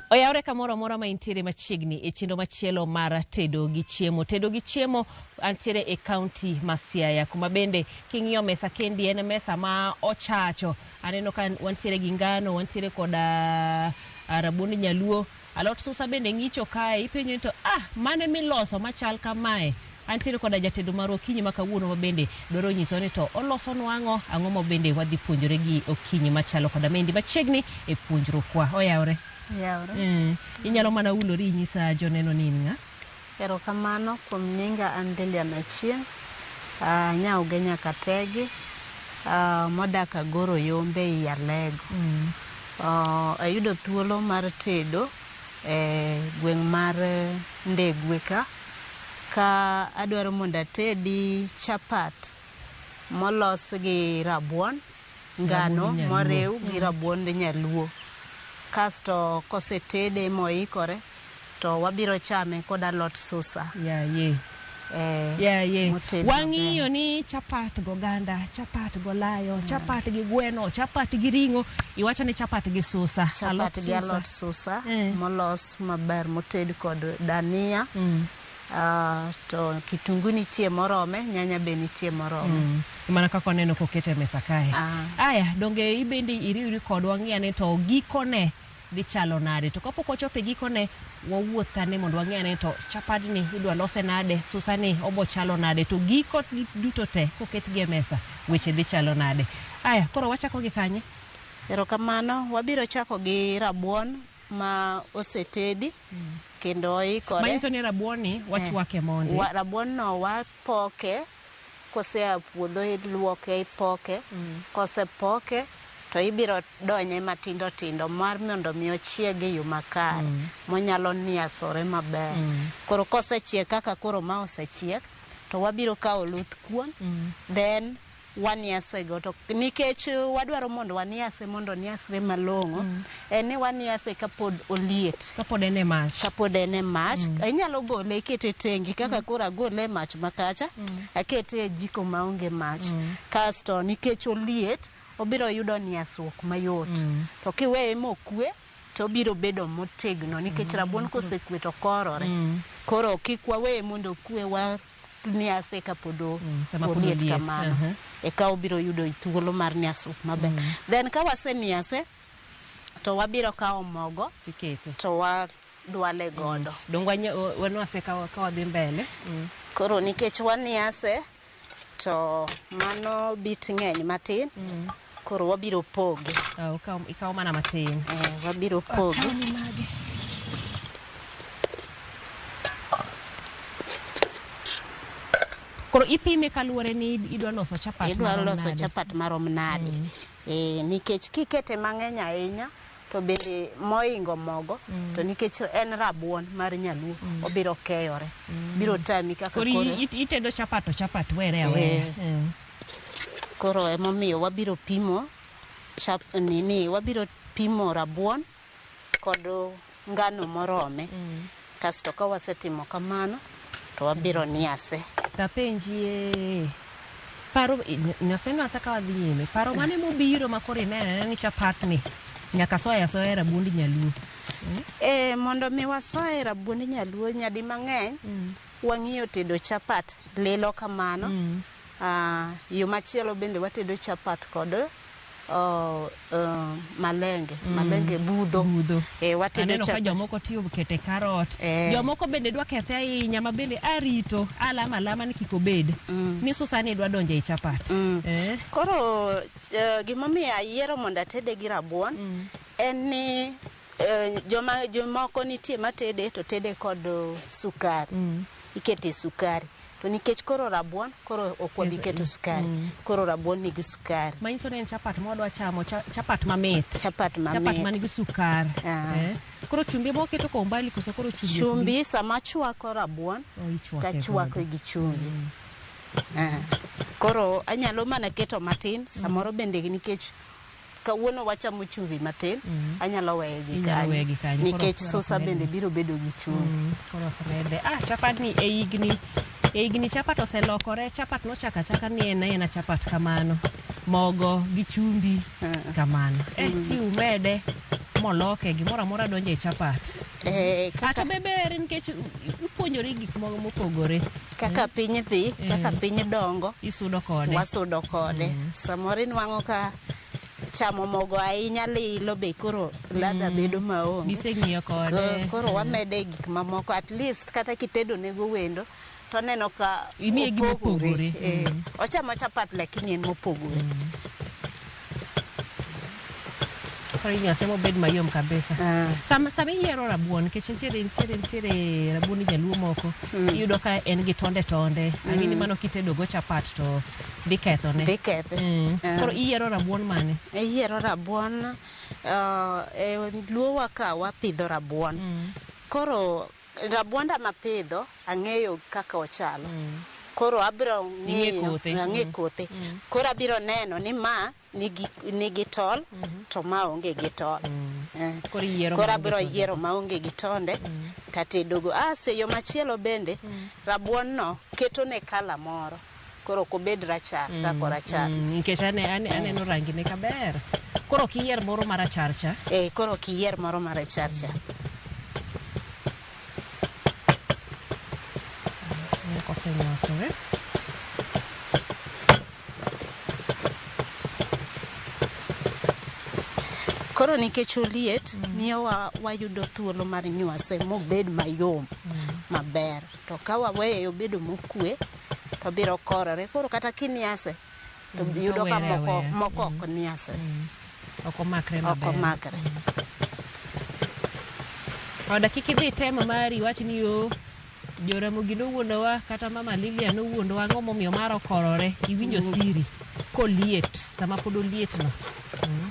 Oyawre kamoro amora ma intiere machiegni e chenro machielo mar tedo gi chiemo. Tedo gi chiemo antiere e kaunti ma Siaya kuma bende king'iyo mesa kendi en mesa ma ochacho. Aneno ka wantiere gi ngano, wantiere koda ah, rabuond nyaluo Alot susa bende ng'icho kae, ipenjo ni to ah mane miloso machal kamae? Antiere koda jatedo marwa okinyi ma kawuono ma bende dwaro nyisowa ni to olosonwa ang'o, ang'o ma bende wadhi puonjore gi okinyi machalo koda maendi machiegni e puonjrukwa. Oyawore? Oyawore. Eh, inyalo mana hulori inyisa joneno ni in ng'a? Erokamano kuom nyinga an Lilian Achieng', aa Nyaoge Nyakategi, aa modak Agoro Yombe ei Alego. Uh, ayudo thuolo mar tedo e gweng' mar Ndegwe ka, ka adwaro mondo atedi chapat molos gi rabuon. ngano moriw gi rabuond nyaluo kasto kosetede moikore to wabiro chame kod alot susa. Yaye. Eh, Yaye. moted Wang'iyo maber. ni chapat goganda, chapat golayo, chapat gi gweno, chapat gi ring'o, iwacho ni chapat gi susa, alot Chapat gi susa. alot susa Eh. molos maber moted kod dania. To kitungu nitie morome, nyanya be nitie morome. Mm. Mana kaka waneno koket e mesa kae. Ah. Aya, donge ibende iriwri kodwa ng'i ane to gikone dhi chalo nade. To kapok wachopo e gikone, wawuoth ane mondo wang'i ane to chapadni idwa lose nade, susani obo chalo nade, to giko duto te koketgi e mesa, weche dhi chalo nade. Aya, koro wachako gi kanye? Erokamano, wabiro chako gi rabuon ma osetedi. kendo oikore. Manyiso ni rabuonni wachwake eh, mondi. Wa, rabuon no wapoke kosea puodho iluoke ipoke mm. kosepoke to ibiro donye matindo tindo mar mondo mi ochieg e yo makare mm. monyalo niasore maber mm. koro kosechiek kaka koro ma osechiek to wabiro kawo luth kuon mm. then waniase go to nikech wadwaro mondo waniase mondo oniasre malong'o en ni waniase kapod oliet Kapod en e mach. kapod en e mach inyalo gole ikete tengi kaka koro agole e mach makacha akete e jiko maonge mach kasto nikech oliet obiro yudo niasruok mayot to kiweye mokwe to obiro bedo motegno nikech rabuon kosekwe to korore koro kik waweye mondo okwe wa nyase kapod o- Mm, sama pod oliet oliet, kamano aha. eka obiro yudo thuolo mar nyasruok maber then ka wasenyase to wabiro kawo mogo Tiketo. to wadwale godo Donge wanya- wa- wanwase ka wa- ka wadhi mbele. Mm. koro nikech wanyase to mano bit ng'eny matin Koro wabiro poge. Ah, ukaw, ikaw mana matin. Eh, wabiro poge. Koro ipime kaluwore ni idwa loso chapat Idwa marom loso nade. chapat marom nade. Eh, nikech kikete mang'eny ahinya to bende moingo mogo to nikech en rabuon mar nyaluo obiro keyore. Biro tami kaka Koro koro. i- i- itedo chapat to chapat were awera. Eh. Eh. Koro emomiyo wabiro pimo chap nini wabiro pimo rabuon kod ngano morome kasto ka wasetimo kamano to wabiro niase Tapenjie. Paro nyase nyase ka wadhi nyime. Paro mane mobiro ma koro ineno ni chapat ni nyaka soya soya rabuond nyaluo. e, mondo mi wasoye rabuond nyaluo nyadi mang'eny wang'iyo tedo chapat lilo kamano Yo machielo bende watedo chapat kod oh, oh, malenge malenge budho, budho. Eh, Aneno watedo ka chapat jomoko tiyo kete karot. Eh. Jomoko bende dwa kethe ahinya ma bende arito alama alama ni kik obed. Ni susani dwa donjo e chapat. Eh. koro eh, gimomiyo ayiero mondo atede gi rabuon en ni Jomoko nitie matede to tede kod sukari, ikete sukari. To nikech koro rabuon koro ok wabi keto sukari, koro rabuon nigi sukari. Manyiso ni en chapat mwadwa chamo, chapat mamit. Chapat mamit. Chapat man gi sukari. Koro chumbi ema waketo kwa umbali koso koro chumbi. Chumbi sama achwako rabuon to achwake gi chumbi. Koro anyalo mana keto matin samoro bende nikech. Kawuono wachamo chumvi matin, anyalo weye gi Inyalo weye gi kanyo. kanyo. Nikech Koro- koro sosa bende biro bedo gi chumvi. Mm, koro ok rede. Ah, chapat ni e higni e higni chapat oselokore. Chapat nochako achaka ni en aena chapat kamano. Mogo gi chumbi kamano. Eh, ti umede moloke gimoro amora donjo e chapat. Eh, Kata kaka be ber nikech ipuonjori gik moko mopogore. kaka piny dhi kaka piny dongo isudo kode wasudo kode samoro inwang'o ka chamo mogo ahinya lilo be koro ladha bedo maonge giseng'iyo Ko- kode koro wamede gik mamoko at least kata kitedo nego wendo to neno ka Imiye gima opogore. Eh, ochamo chapat lakini en mopogore Koro inywase mobed mayom kabisa. Ah. Sama sama iyiero rabuon nikech nitiere nitiere nitiere rabuon jaluo moko iyudo ka en gi tonde tonde. Agini mano kitedo go chapat to dhi kethone. Dhi kethe. Mm. Ah. Koro iyiero rabuon mane? iyiero rabuon uh, e luowa ka wapidho rabuon koro Rabuonda mapidho ang'eyo kaka ochalo. Koro abiro ng'iyo, ang'e kothe. Koro abiro neno ni ma nigi, nigi tol to ma onge gi tol. Eh. Koro iyiero Koro ma onge abiro tonde. yiero ma onge gi tonde tatedogo. As e yo machielo bende, rabuon no ketone colour moro. Koro ok obed rachar ka korachar. Mm, nikech ane, ane, aneno rangine ka ber koro ok iyier moro marachar cha Eh, koro ok iyier moro marachar cha. Moko osenyosore Koro nikech oliet miyo wa, wayudo thuolo mar nywase mobed mayom maber. To ka waweye obedo mokue to biro korore koro kata kiniase to Mm, yudo ka awere moko aweya. moko ok niase Mm. Ok omakre ok maber. omakre Oda kik idhi temo mari wach ni yo Joramogi nowuondowa kata mama Lilia nowuondowa ang'o momiyo mar okorore iwinjo siri koliet sama pod olietno. Mm.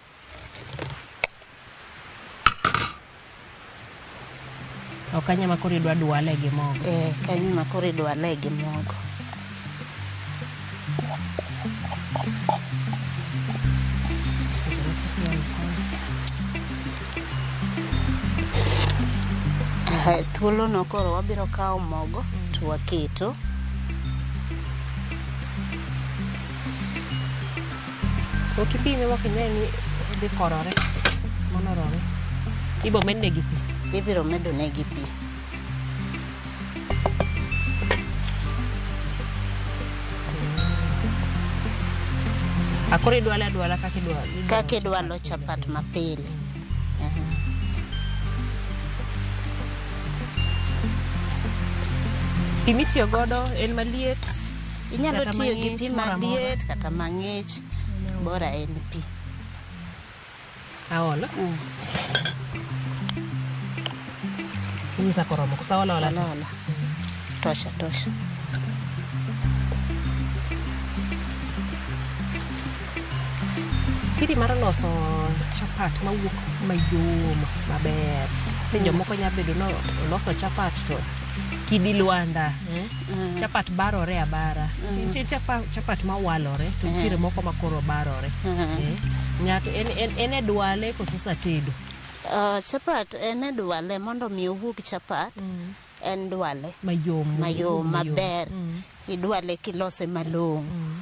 Ok kanya ma koro idwa dwale gi mogo. Eh, kanyo ma koro idwale gi mogo. Eh, thuolono koro wabiro kawo mogo to waketo Ok ibi ne wak ine ni odhi korore monorore. Ibo medne gi pi. Ibiro medo ne gi pi. Akoro idwale adwala kaka idwalo. Kaka idwalo chapat mapile. Pi mitiyo godo en maliet. Inyalo tiyo gi pi maliet kata mang'ich, bora en pi. Aolo. Mm. Inyisa koromo kosa ola ola. Ola ola. Tosha tosha. Siri mar loso chapat mawuok mayom maber. Ni jomoko nya bedo ni loso chapat to kidi lwanda. Mm. chapat barore abara Mm. Ti- nitie chapa- chapat mawalore to Mm. nitiere moko makoro barore Mm. Eh, ng'ato en, en, en e dwale koso satedo Ah, chapat en e dwale mondo mi owuog chapat en dwale mayom mayom maber Mm. idwale kilose malong'o Mm.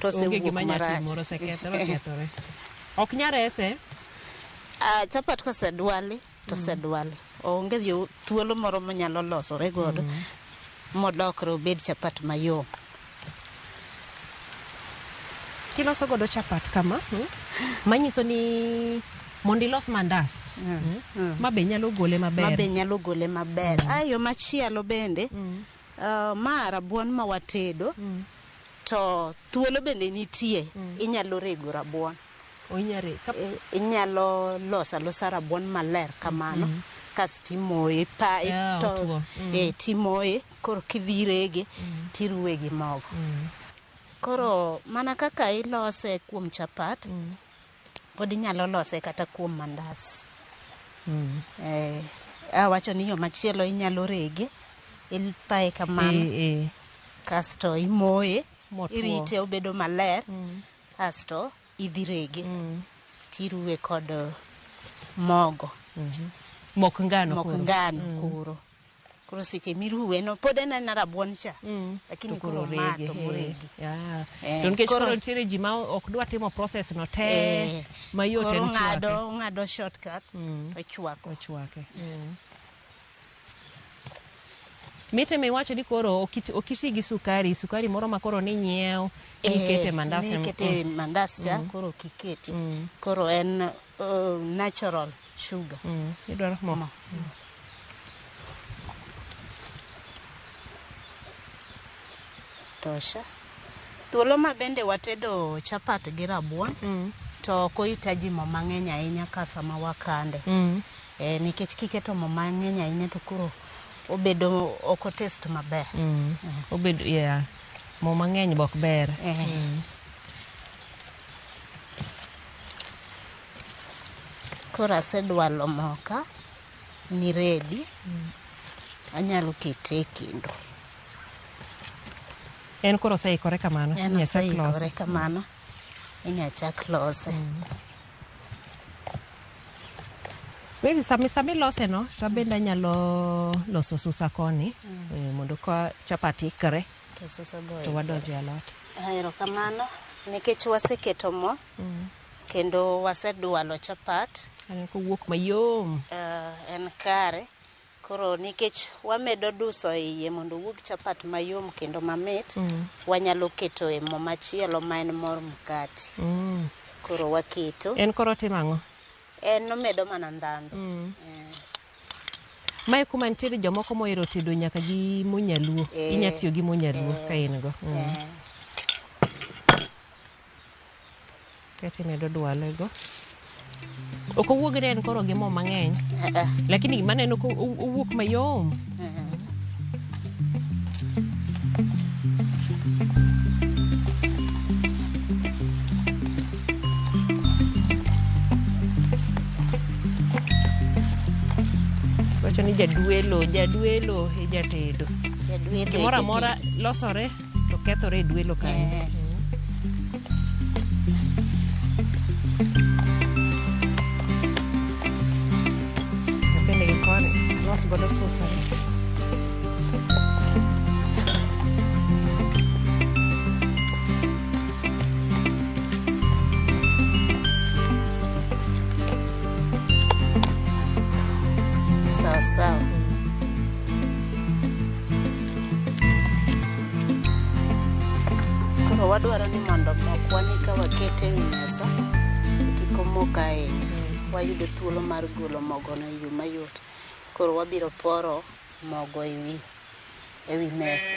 to Onge osewuok gima nya marach. timore, osekethore, okethore. Ok nya rese. Ah, chapat kosedwali to osedwali. Onge yo thuolo moro monyalo losore godo modokre obed chapat mayom. Kiloso godo chapat kama, mm, manyiso ni mondo ilos mandas, mm, ma be nyalo gole ma be maber. nyalo gole maber. Ah, yo machielo bende ah, ma rabuon ma watedo To thuolo bende nitie, inyalo rego rabuon. O inya re, kap, I- Inyalo loso alosa rabuon maler kamano, kasto imoye, ipa, Yeah, ito, otuo. Mm. eh, timoye, koro kidhi rege, tiruwe gi mogo. Koro mana kaka ilose kuom chapat, Pod inyalo lose kata kuom mandas. Eh, awacho ni yo machielo inyalo rege, ipaye kamano, Eh, eh. kasto imoye, Motwo. irite obedo maler, kasto idhi rege, tiruwe kod eh, mogo, Mok ngano mok koro. ngano koro. koro seche miruwe no pod en aena rabuon cha Mm. lakini To koro koro mato orege, moregi eh. Yeah. Eh, To nikech koro- koro nitiere ji ma ok dwa timo process no te Eh, mayot koro en chwake. ng'ado ng'ado shortcut Mm. to chwako Ochwake. Mite mi wacho ni koro okiti okiti gi sukari, sukari moro ma koro ni nyiew, ni Eh, kete mandas. nikete mandas cha koro kiketi Mm. koro en natural sugar. Mm. Idwaro mo. Mo. Tosha. Thuolo ma bende watedo chapat gi rabuon Mm. to ok ohitaji mo mang'eny ahinya ka sama wakande. Mm. Eh, nikech kiketo mo mang'eny ahinya to koro obedo ok otest maber. Mm. Obedo yeah. Mo mang'eny bok ber. Eh. Koro asedwalo moka ni ready. Anyalo kete e kendo. En koro oseikore kamano. En inya chak lose. oseikore kamano. Inya chak lose. Maybe sami sami lose no, to abende anyalo loso susa koni eh, mondo ka chapat ikre. to wadonjo e alot. Erokamano nikech waseketo mo mm. kendo wasedwalo chapat kowuok mayom uh, en kare koro nikech wamedo duso e iye mondo owuog chapat mayom kendo mamit mm. wanyalo keto e mo machielo ma en mor mkati mm. koro waketo en koro timo ang'o en omedo mana ndhandhu mm. eh. Mae kuma nitiere jomoko mohero tedo nyaka gi mo nyaluo. Eh. Inya tiyo gi mo nyaluo Eh. ka in go. Mm. Eh, Kaeto imedo dwale go. Ok owuog ne en koro gi mo mang'eny. eh, eh, Lakini gima aneno ko o- owuok mayom. wacho ni jadwelo jadwelo e jatedo Jadwelo e gimoro amora losore to kethore e dwelo kanyo Eh. napende gi koni alos godo susa Sawa sawa. Koro wadwaro ni mondo mokwani ka wakete e wi mesa kik omok ahinya. Wayudo thuolo mar golo mogono e yo mayot. Koro wabiro poro mogo e wi, e wi mesa.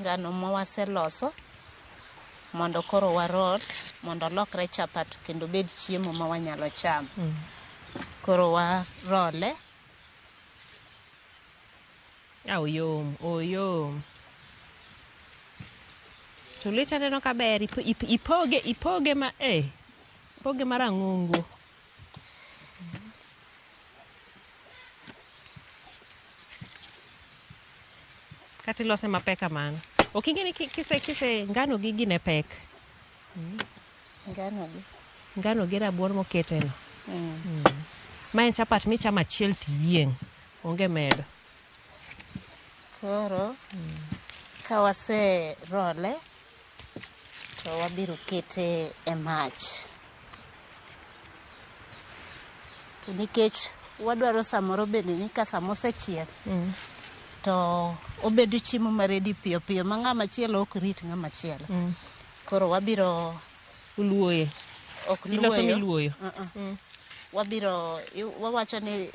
Ngano ma waseloso mondo koro warol mondo olokre chapat kendo obed chiemo ma wanyalo chamo. Mm. Koro warole. Ah, oyom, oyom. To lweti aneno kaber, ipoge, ipoge ma, eh, ipoge marang'ongo. kata ilose mapek kamano ok ing'e ni ki- kise kise ngano gi gine pek Ngano gi. ngano gi rabuon moketeno Mm. ma en chapat michamo achiel tiyieng' onge medo Koro ka wase role to wabiro kete e mach. To nikech wadwaro samoro bende ni ka sama osechiek mm. to obedo chiemo maredi piyo piyo ma ng'ama chielo ok rit ng'ama chielo. Mm. Koro wabiro Uluoye. Ok Iloso luoyo. miluoyo. Uh-uh. Wabiro i- wawacho ni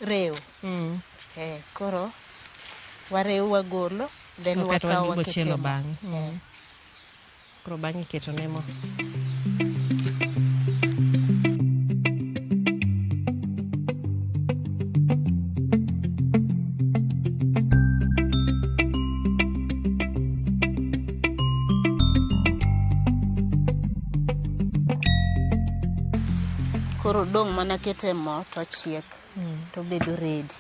rew. Mm. Eh, koro warew wagolo then Okay, to wakaw waduogo chielo waketemo. bang'e. Mm. Eh. Koro bang'e iketo ne mo. Koro dong' mana kete mo to chiek mm. to bedo ready.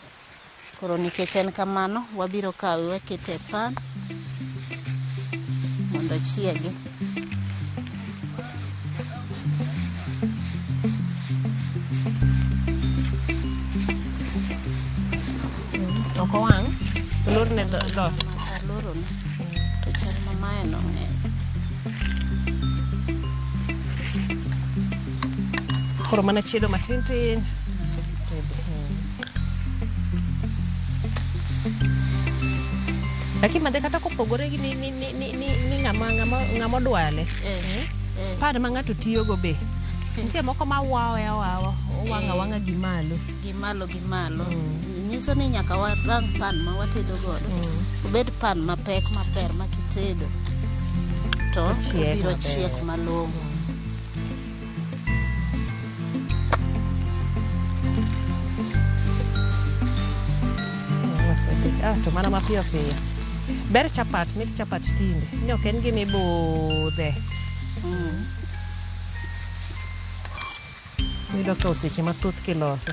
Koro nikech en kamano, wabiro kawe wakete e pan mondo chiegi. ok owang' olorne dho- dhoot alorone to chal ma mae nong'eny koro mana chiedo matin tin lakini madhe kata kopogore gi ni- ni- ni- ni- ni- ni ng'ama ng'ama- ng'ama odwale eh Eh. pad ma ng'ato tiyogo be nitie moko ma wawe awawa owanga wanga gi malo gi malo gi malo nyiso ni nyaka warang pan ma watedo godo obed pan mapek maber ma kitedo to Ochiek obiro maber. chiek malong'o Ah, to mana mapiyo piyo ber chapat mit chapat tinde ni ok en gima ibudhe yudo ka oseche mathoth kilose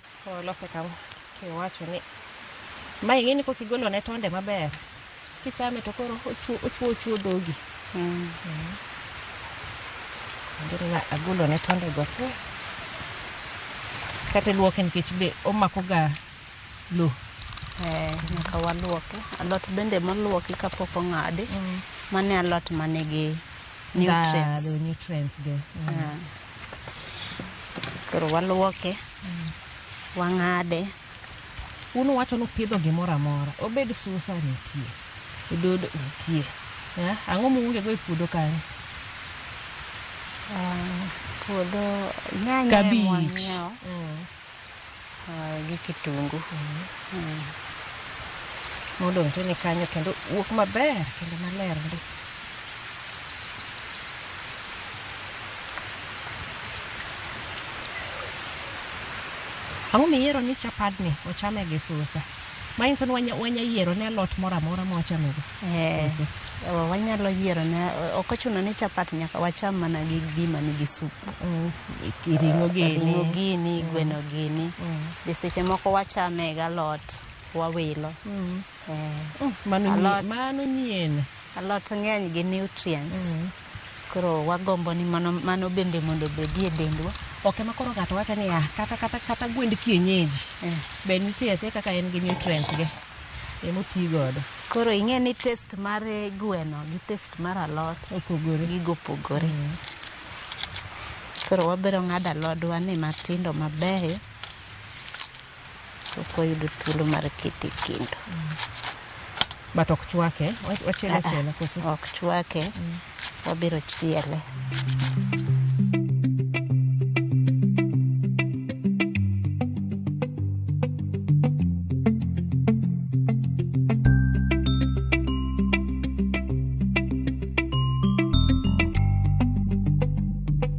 Olose kama kiwacho ni ma ing'e ni kok igolo ne tonde maber kichame to koro ochuo ochuo ochuo dhogi Mm. Kendo na agolo ne tonde go te kata luoke nikech be omako ga lo Eh, nyaka waluoke. Alot bende moluoki kapok ong'adi, mane alot manigi nutrients. nutrients ge Ah. Koro waluoke, wang'ade. Un uwacho ni upidho gimoro amora, obed susa nitie, ododo nitie. Eh, Ang'o muongego e puodho kanyo? Ah, Puodho nyanya ema Kabich. wang'iewo. Mm. gi kitungu modonjone kanyo kendo wuok maber kendo maler ndi. Ang'o miyiero ni chapadni ochame gi susa? Manyiso ni wanya yiero ne alot moro amora mwachamo go. Koso? Ewa, wanyalo yiero ne, ok ochuno ni chapat nyaka wacham mana gi gima nigi sup. Mm, i- Ring'o gini. Ring'o gini, gweno gini. Be seche moko wachame galot, wawilo. Eh, Mm, Mano nyie- Alot. mano nyien. Alot ng'eny gi nutrients. Koro wagombo ni mano, mano bende mondo obedi e dendwa. Ok ema koro ng'ato wacho ni ah, kata kata kata gwend kienyeji Eh. be nitie atie kaka en gi nutrients ge ema oti godo. Koro ing'e ni taste mar eh, gweno gi taste mar alot Opogore. gigo opogore. Koro wabiro ng'ado alodwa ni matindo mabeyo. ok wayudo thuolo mar kete e kendo But ok chwake. Wa- Wachielo Ah, ah, chielo koso? ok chwake wabiro chiele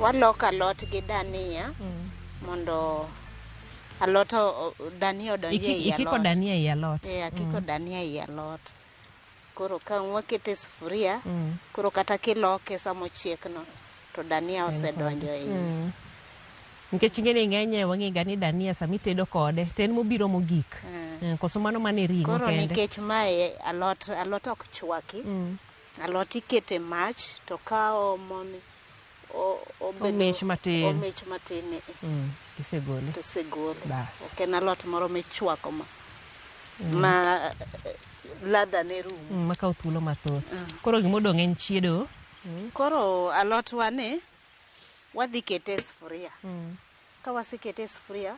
Waloko alot gi dania mondo alot o- o- dania odonj Iki- ei ikiko alot. dania ei alot. Eh, akiko dania ei alot. Koro ka wakete e sufuria, Mm. koro kata kiloke sama ochiekno to dania osedonjo ei. Mm. Nikech ingeni ng'enye wang'ega ni dania sama itedo kode to en mobiro mogik. Eh, Koso mano mane ring'o Koro kende. nikech mae alot alot ok chwaki, Mm. alot ikete mach to kawo mon omich matin omich matin ni eh. mm. tisegole tisegole ok en alot moro michwako ma mm. ma eh, ladha ne rum mm, makawo thuolo mathoth mm. koro gima odong' en chiedo mm. koro alotwa ni wadhi kete e sufuria mm. Ka wasekete e sufuria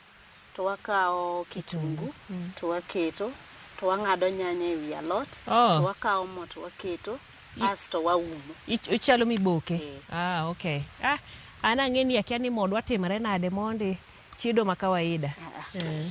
to wakawo kitungu to waketo to wang'ado nyanya e wi alot Oh. to wakawo mo to waketo asto waumo. Ich- Ichalo miboke. Eh. Ah, okay. Ah, an ang'e ni akia ni modwa timre nade mondi chido ma kawaida. Ah, ah. Eh.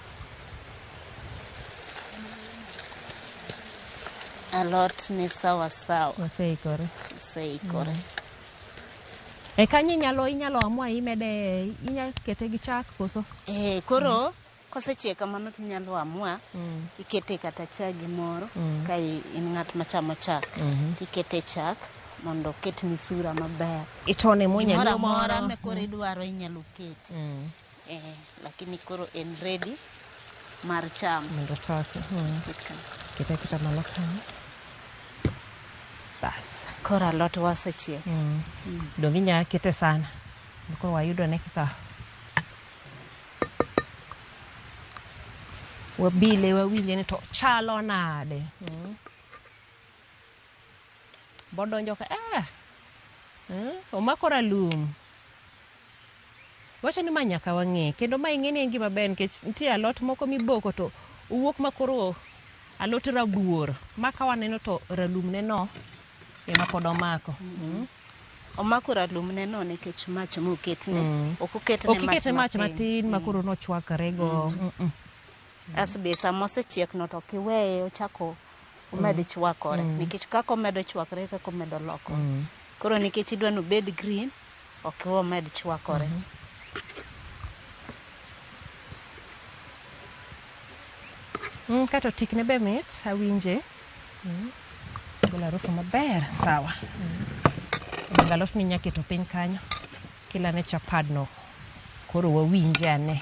Alot ni sawa sawa. Oseikore. Oseikore. Mm. E kanyo inyalo inyalo amua imede inyalo kete gi chak koso? Eh, koro mm. kosechiek kamano to inyalo amua mm. ikete kata chak gimoro mm. ka in ng'at machamo chak mm -hmm. ikete chak mondo oketni sura maber. Itone monya moro. Moro amora mekore mm. idwaro inyalo kete. Mm. Eh, lakini koro en ready mar cham. mondo toke mm. Ket ka. kete aketa malo kanyo bas Koro alot wasechiek. mm. dong inya kete sana koro wayudo ne kaka wabile wawinje ni to chalo nade mm. Bodonjo ka ah, eh, omako ralum. Wacho ni ma nyaka wang'e kendo ma ing'e ni en gima ber nikech nitie alot moko miboko to owuok ma koro alot rabuor ma ka waneno to ralum ne no ema pod omako. Mm. Omako ralum ne no nikech mach moketne. Mm. Ok oketne mach matin. Ok ikete mach matin ma koro nochwakre go. Mm. Mm -mm. Asbi sama osechiek no to kiweye ochako omed mm. chwakore mm. nikech kaka omedo chwakore kaka omedo loko mm. koro nikech idwa no bed green ok omed chwakore mm -hmm. Mm, kato tikne be mit awinje mm. golo harufu maber sawa mm. galot ni nyaketo piny kanyo kila ne chapadno koro wawinje ane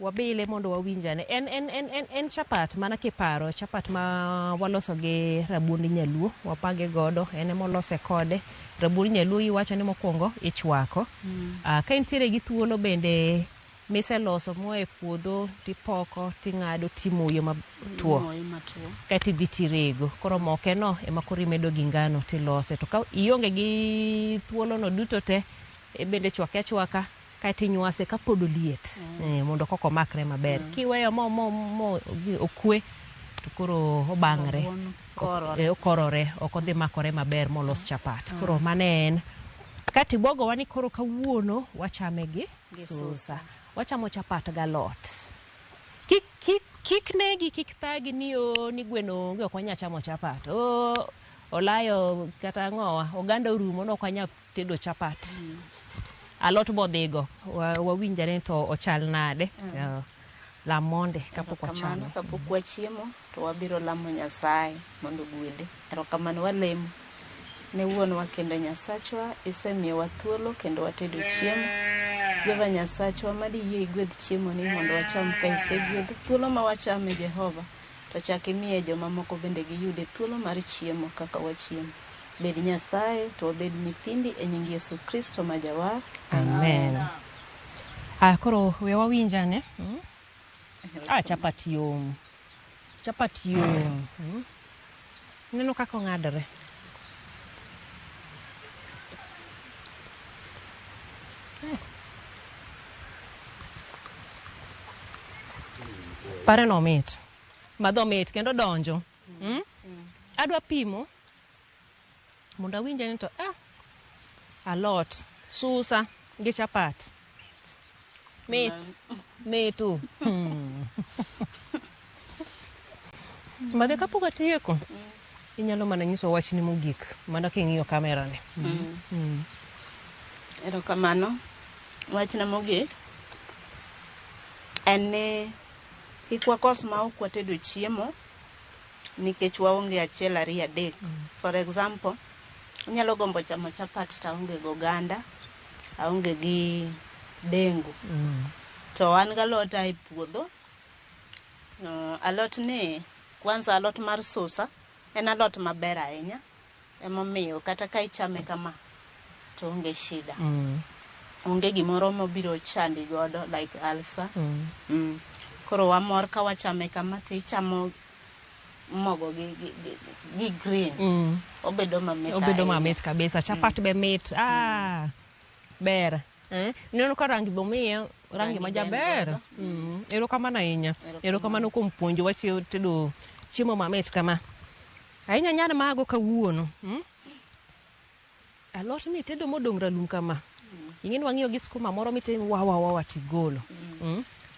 Wabile mondo wawinj ane. En en en en en chapat mana kiparo chapat ma waloso gi rabuond nyaluo wapage godo en ema olose kode rabuond nyaluo iwacho ni mokwongo ichwako Ah, ka intiere gi thuolo bende miseloso moa e puodho tipoko ting'ado timoyo matwo Imoye matwo. kae tidhi tirego koro mokeno ema koro imedo gi ngano tilose to ka ionge gi thuolono duto te e bende chwake achwaka Kae to inywase ka pod oliet mondo koka omakre maber. Kiweyo mo mo mo okwe to koro obang're. Okorore. Eh, okorore, ok odhi makore maber molos chapat. Koro mano e en. Kae to ibwogowa ni koro kawuono wachame gi Gi susa. susa. Wachamo chapat galot. Kik, kik, kik negi, kik thagi ni oo ni gweno onge ok wanyal chamo chapat. Oo olayo kata ang'owa, oganda orumo ne ok wanyal tedo chapat alot bodhigo wa- wawinj ane to ochal nade Eh, lam monde kapok wachame Erokamano kapok wachiemo to wabiro lamo Nyasaye mondo ogwedhe. Erokamano walemo ne wuonwa kendo Nyasachwa isemiyowa thuolo kendo watedo chiemo. Jehova Nyasachwa mad iyie igwedh chiemoni mondo wacham ka isegwedho. Thuolo ma wachame Jehova to chak imiye jomamoko bende giyude thuolo mar chiemo kaka wachiemo. Bed Nyasaye to wabed nyithindi e nying Yesu Kristo ma Jawar. Amen. Aya koro we wawinj ane. Mm. Ah, chapat yom. Chapat yom. Mm. Neno kaka ong'adore. Eh. Pare no mit. Madho mit kendo donjo. Mm? Adwa pimo mondo awinje ni to ah, alot susa gi chapat mit mitu Hmm. mage kapok atieko inyalo mana nyiso wachni mogik mana king'iyo kamerani Erokamano. Wachna mogik en ni kik wakos ma ok watedo chiemo nikech waonge achiel ariyo adek. For example, anyalo gombo chamo chapat to aonge gi oganda, aonge gi dengu. To an gi alot ae puodho. Uh, alot ni, kwanza alot mar susa, en alot maber ahinya. Emomiyo kata ka ichame kama to onge shida. Mm. Onge gimoro mobiro chandi godo like ulcer. Mm. Mm. Koro wamor ka wachame kama to ichamo mogo gi, gi, gi, gi green. Mm. Obedo mamit obedo ahinya. mamit kabisa chapat be mit ah, ber eh? neno ka rangi be omiye rangi Rangi ma be en jaber godo. Mm, erokamano ahinya Erokamano. erokamano kuom puonjowa chi- tedo chiemo mamit kama Ahinya nyar mago kawuono. Alot mitedo modong' ralum kama, ing'e ni wang'iyo gi skuma moro mitin wa wa wa tigolo.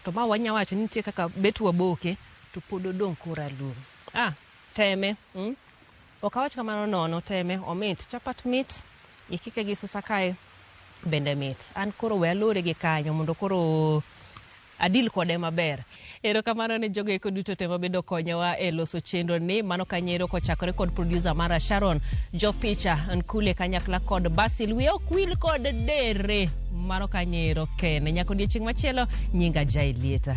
To ma wanya wacho ni nitie kaka bet waboke to pod odong' koralum. Ah, teme. Ok awach kamano nono, teme, omit. Chapat mit, ikike gi susa kae bende mit. An koro we alore gi kanyo mondo koro. A deal kode maber. Erokamano ne jogo eko duto te mabedo konyowa e loso chenro ni. Mano kanyero kochakore kod producer mara Sharon, jopicha Nkule kanyakla kod Basil. Wiya ok wil kod dere. Mano kanyero ken. Nyako odiechieng' machielo nyinga Jai Lieta.